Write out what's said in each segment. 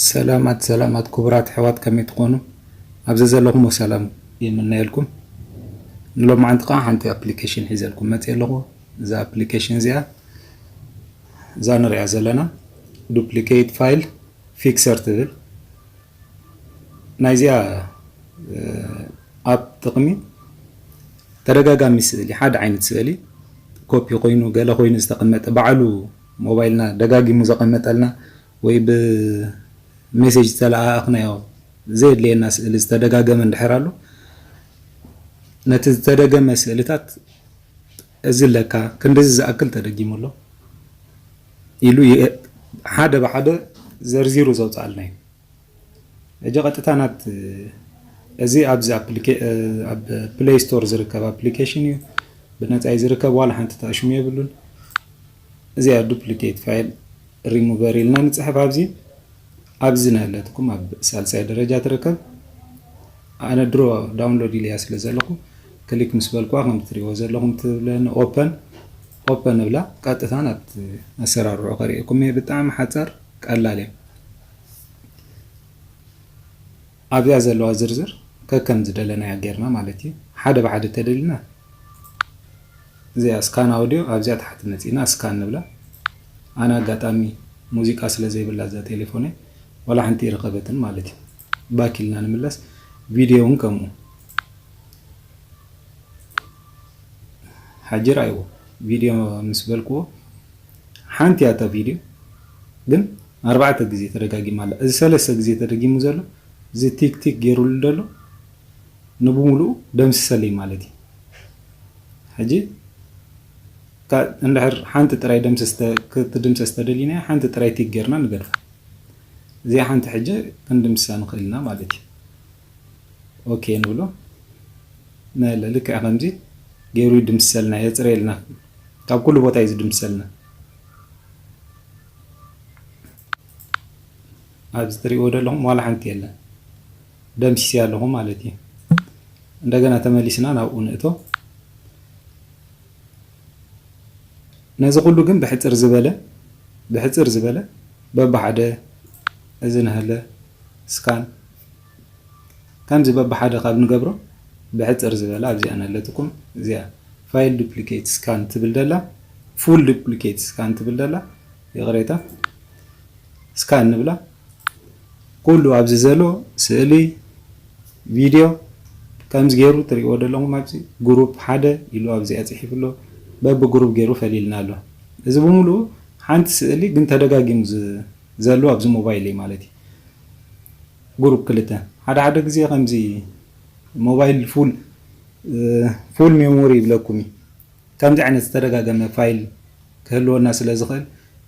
ሰላማት ሰላማት ክቡራት ኣሕዋት ከመይ ትኾኑ? ኣብ ዘዘለኹሞ ሰላም ይምነየልኩም። ንሎማዓንቲ ከዓ ሓንቲ ኣፕሊኬሽን ሒዘልኩም መፅየ ኣለኹ። እዛ ኣፕሊኬሽን እዚኣ እዛ ንሪኣ ዘለና ዱፕሊኬት ፋይል ፊክሰር ትብል ናይዚኣ ኣፕ ጥቕሚ ተደጋጋሚ ስእሊ ሓደ ዓይነት ስእሊ ኮፒ ኮይኑ ገለ ኮይኑ ዝተቐመጠ ባዕሉ ሞባይልና ደጋጊሙ ዘቐመጠልና ወይ ብሜሴጅ ዝተለኣኣኽናዮ ዘየድልየና ስእሊ ዝተደጋገመ እንድሕር ኣሎ ነቲ ዝተደገመ ስእልታት እዚ ለካ ክንድዚ ዝኣክል ተደጊሙ ኣሎ ኢሉ ሓደ ብሓደ ዘርዚሩ ዘውጽኣልና እዩ። ሕጂ ቀጥታ ናት እዚ ኣብዚ ኣብ ፕለይ ስቶር ዝርከብ ኣፕሊኬሽን እዩ። ብነጻ እዩ ዝርከብ ዋላ ሓንቲ ተኣሽሙ የብሉን። እዚኣ ዱፕሊኬት ፋይል ሪሙቨር ኢልና ንፅሕፍ ኣብዚ ኣብዚ ናይላትኩም ኣብ ሳልሳይ ደረጃ ትርከብ ኣነ ድሮ ዳውንሎድ ኢልያ ስለ ዘለኹ ክሊክ ምስ በልኩዋ ከም ትሪእዎ ዘለኹም ትብለኒ ኦፐን ኦፐን እብላ ቀጥታ ናብቲ ኣሰራርዑ ከሪኤኩም እየ ብጣዕሚ ሓፃር ቀላል እያ ኣብዚኣ ዘለዋ ዝርዝር ከከም ዝደለናያ ጌርና ማለት እዩ ሓደ ብሓደ ተደሊና እዚኣ ስካን ኣውድዮ ኣብዚኣ ታሕቲ መጺእና ስካን ንብላ ኣነ ኣጋጣሚ ሙዚቃ ስለ ዘይብላ እዛ ቴሌፎነይ ዋላ ሓንቲ ይረኸበትን ማለት እዩ ባክ ኢልና ንምለስ ቪድዮ እውን ከምኡ ሓጂ ርኣይዎ ቪድዮ ምስ በልክዎ ሓንቲ እያ እታ ቪድዮ ግን ኣርባዕተ ግዜ ተደጋጊማ ኣላ እዚ ሰለስተ ግዜ ተደጊሙ ዘሎ እዚ ቲክ ቲክ ጌሩሉ ደሎ ንብሙሉኡ ደምስሰለይ ማለት እዩ ሕጂ እታ እንድሕር ሓንቲ ጥራይ ደምስስ ተ ክትድምሰስ ተደሊናያ ሓንቲ ጥራይ ቲክ ጌርና ንገድፋ እዚኣ ሓንቲ ሕጂ ክንድምስሳ ንኽእል ኢና ማለት እዩ ኦኬ ንብሎ ናይ ኣላ ልክዕ ከምዚ ጌሩ ይድምስሰልና የጽርየልና ካብ ኩሉ ቦታ እዩ ዝድምስሰልና ኣብዚ ትሪእዎ ዘለኹም ዋላ ሓንቲ የለን ደምሲሰ ኣለኹ ማለት እዩ። እንደገና ተመሊስና ናብኡ ንእቶ። ነዚ ኩሉ ግን ብሕፅር ዝበለ ብሕፅር ዝበለ በብሓደ እዚ ንሃለ ስካን ከምዚ በብሓደ ካብ ንገብሮ ብሕጽር ዝበለ ኣብዚኣ ነለትኩም እዚኣ File Duplicate Scan ትብል ደላ Full Duplicate Scan ትብል ደላ ይቕሬታ ስካን ንብላ ኩሉ ኣብዚ ዘሎ ስእሊ ቪድዮ ከምዚ ገይሩ ትሪእዎ ዘለኹም ኣብዚ ግሩፕ ሓደ ኢሉ ኣብዚኣ ጽሒፉ ኣሎ በቢ ግሩፕ ገይሩ ፈሊልና ኣሎ እዚ ብምሉኡ ሓንቲ ስእሊ ግን ተደጋጊሙ ዘለዎ ኣብዚ ሞባይል እዩ ማለት እዩ Group ክልተ፣ ሓደ ሓደ ግዜ ከምዚ ሞባይል ፉል Full Memory ይብለኩም እዩ። ከምዚ ዓይነት ዝተደጋገመ ፋይል ክህልወና ስለ ዝኽእል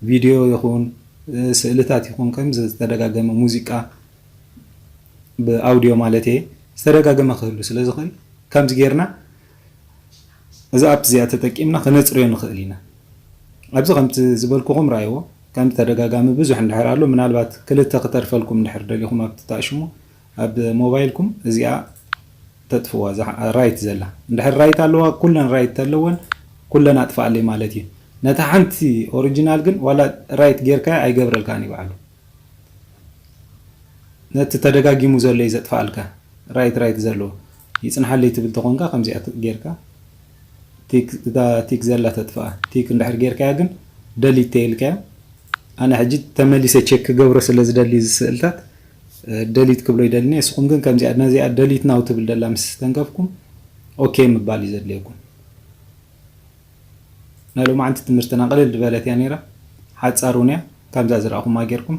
ቪድዮ ይኹን ስእልታት ይኹን ከምዚ ዝተደጋገመ ሙዚቃ ብ Audio ማለት'የ ዝተደጋገመ ክህሉ ስለ ዝኽእል ከምዚ ጌርና እዛ ኣፕ እዚኣ ተጠቂምና ክነጽርዮ ንኽእል ኢና። ኣብዚ ከምቲ ዝበልኩኹም ረኣይዎ። ከም ብተደጋጋሚ ብዙሕ እንድሕር ኣሎ ምናልባት ክልተ ክተርፈልኩም እንድሕር ደሊኹም ኣብቲ ታእሽሙ ኣብ ሞባይልኩም እዚኣ ተጥፍዋ እዛ ራይት ዘላ እንድሕር ራይት ኣለዋ ኩለን ራይት ተለወን ኩለን ኣጥፍኣለይ ማለት እዩ ነታ ሓንቲ ኦሪጅናል ግን ዋላ ራይት ጌርካያ ኣይገብረልካን እዩ ባዕሉ ነቲ ተደጋጊሙ ዘሎ እዩ ዘጥፍኣልካ ራይት ራይት ዘለዎ ይጽንሓለይ ትብል ተኾንካ ከምዚኣ ጌርካ ቲክ እታ ቲክ ዘላ ተጥፍኣ ቲክ እንድሕር ጌርካያ ግን ደሊት ተይልካያ ኣነ ሕጂ ተመሊሰ ቼክ ክገብሮ ስለ ዝደሊ እዚ ስእልታት ደሊት ክብሎ ይደልኒ እስኹም ግን ከምዚኣ ነዚኣ ደሊት ናው ትብል ደላ ምስ ተንከፍኩም ኦኬ ምባል እዩ ዘድልየኩም ናይ ሎማዓንቲ ትምህርትና ቅልል ድበለት እያ ነይራ ሓጻር ውን እያ ከምዛ ዝረኣኹማ ጌርኩም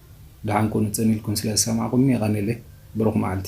ደሓን ኩኑ ጽን ኢልኩም ስለ ዝሰማዕኩምኒ የቀንየለይ ብሩክ መዓልቲ።